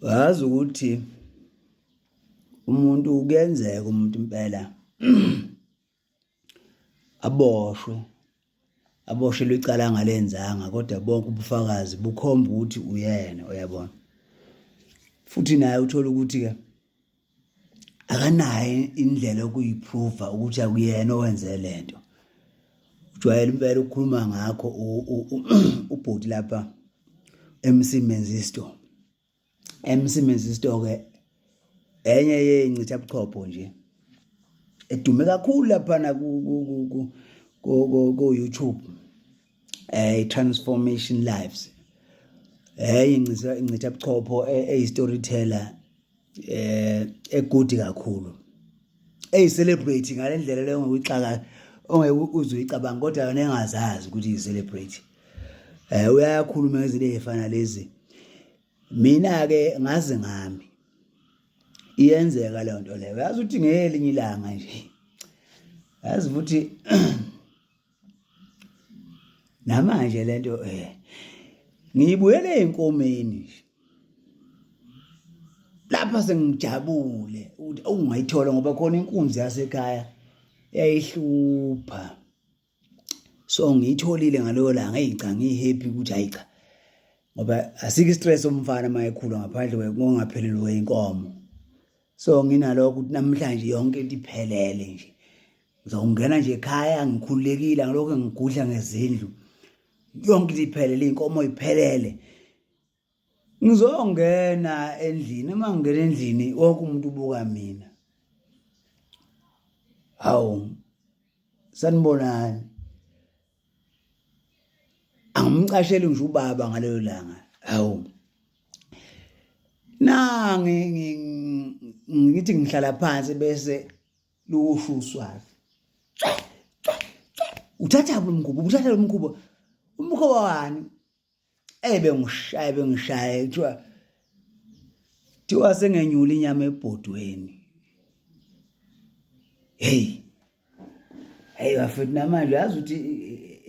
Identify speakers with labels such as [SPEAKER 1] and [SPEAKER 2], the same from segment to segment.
[SPEAKER 1] wazi ukuthi umuntu kuyenzeka umuntu impela aboshwe aboshelwe icala angalenzanga kodwa bonke ubufakazi bukhomba ukuthi uyena uyabona futhi naye uthola ukuthi-ke akanayo indlela yokuyiprova ukuthi akuyena owenze le nto ujwayele impela ukukhuluma ngakho ubhuti lapha MC Menzisto MC Menzisto ke enye yencitha buchopho nje edume kakhulu lapha na ku ku YouTube eh transformation lives eh incitha incitha buchopho eyi eh, storyteller eh egudi kakhulu eyi celebrate ngalendlela leyo ngokuyixaka ongeke uze uyicabanga kodwa yona engazazi ukuthi yi celebrate eh uyakhuluma ngezinto ezifana lezi mina ke ngazi ngami iyenzeka leyo nto leyo yazi uthi ngelinye ilanga nje yazi futhi namanje lento eh ngiyibuyele enkomeni lapha sengijabule ukuthi awungayithola ngoba khona inkunzi yasekhaya yayihlupha so ngiyitholile ngaloyo langa eyica ngiyihappy ukuthi hayi cha ngoba asikho istress omfana uma ekhula ngaphandle kokungaphelelwa inkomo so nginalokho ukuthi namhlanje yonke into iphelele nje ngizongena nje ekhaya ngikhululekile ngilokho ngigudla ngezindlu yonke into iphelele inkomo iphelele ngizongena endlini uma ngingena endlini wonke umuntu ubuka mina hawu sanibonani angimcasheli ngisho ubaba ngaleyo langa awu nange ngithi ngihlala phansi bese luwusho uswazi uthatha lo mkhuba uthatha lo mkhuba umkhuba wani eyi bengishaya bengishaya kuthiwa kuthiwa sengenyula inyama ebhodweni heyi heyi bafethu namanje yazi ukuthi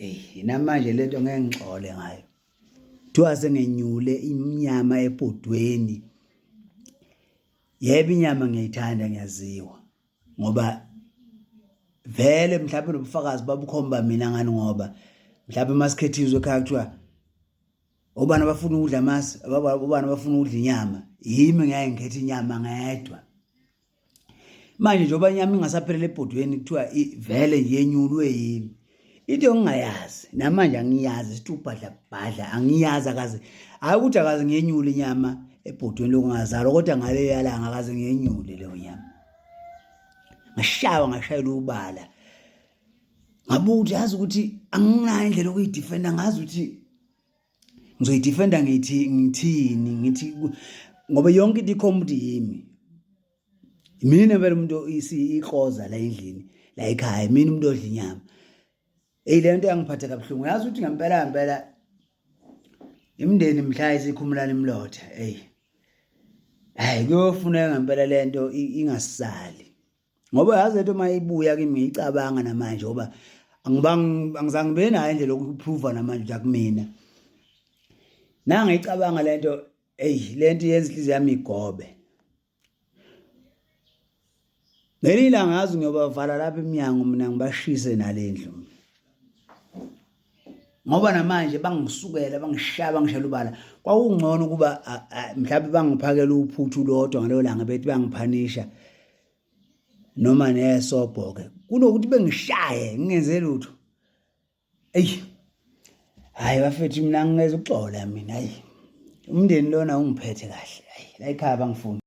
[SPEAKER 1] eyi namanje le nto ngeke ngixole ngayo kuthiwa sengenyule inyama ebhodweni yebo inyama ngiyayithanda ngiyaziwa ngoba vele mhlawumbe nobufakazi babukhomba mina ngani ngoba mhlawumbe masikhethiswe ekhaya kuthiwa obani abafuna ukudla amasi obani abafuna ukudla inyama yimi ngeke ngikhethe inyama ngedwa manje njengoba inyama ingasaphelele ebhodweni kuthiwa vele yenyulwe yimi into engingayazi namanje angiyazi sithi ubhadla bhadla angiyazi akaze hayi ukuthi akaze ngenyule inyama ebhodweni lokungazalwa kodwa ngale yalanga akaze ngenyule leyo nyama ngashawa ngashayela ubala ngabuka ukuthi yazi ukuthi anginayo indlela okuyidefenda ngazi ukuthi ngizoyidefenda ngithi ngithini ngithi ngoba yonke into ikhomudi yimi mina vele umuntu ikroza la endlini la ekhaya mina umuntu odla inyama eyi le nto yangiphatha kabuhlungu yazi ukuthi ngempela ngempela imndeni mhla isikhumulana imlotha eyi hayi kuyofuneka ngempela le nto ingasali ngoba yazi le nto uma ibuya kimi ngiyicabanga namanje ngoba angizange ngibe nayo indlela yokuphruva namanje ukuthi akumina nangiyicabanga le nto eyi le nto yenza inhliziyo yami igobe ngelinye ilanga ngazi ngiyobavala lapha emnyango mina ngibashise nale ndlu ngoba namanje bangisukela bangishaya bangishela ubala kwakungcono ukuba mhlawumbe bangiphakela uphuthu lodwa ngaleyo langa bethi bangiphanisha noma nesobhoke kunokuthi bengishaye ngingenze lutho eyi hayi bafethu mina ngingeza ukuxola mina hayi umndeni lona ungiphethe kahle hayi la ekhaya bangifuni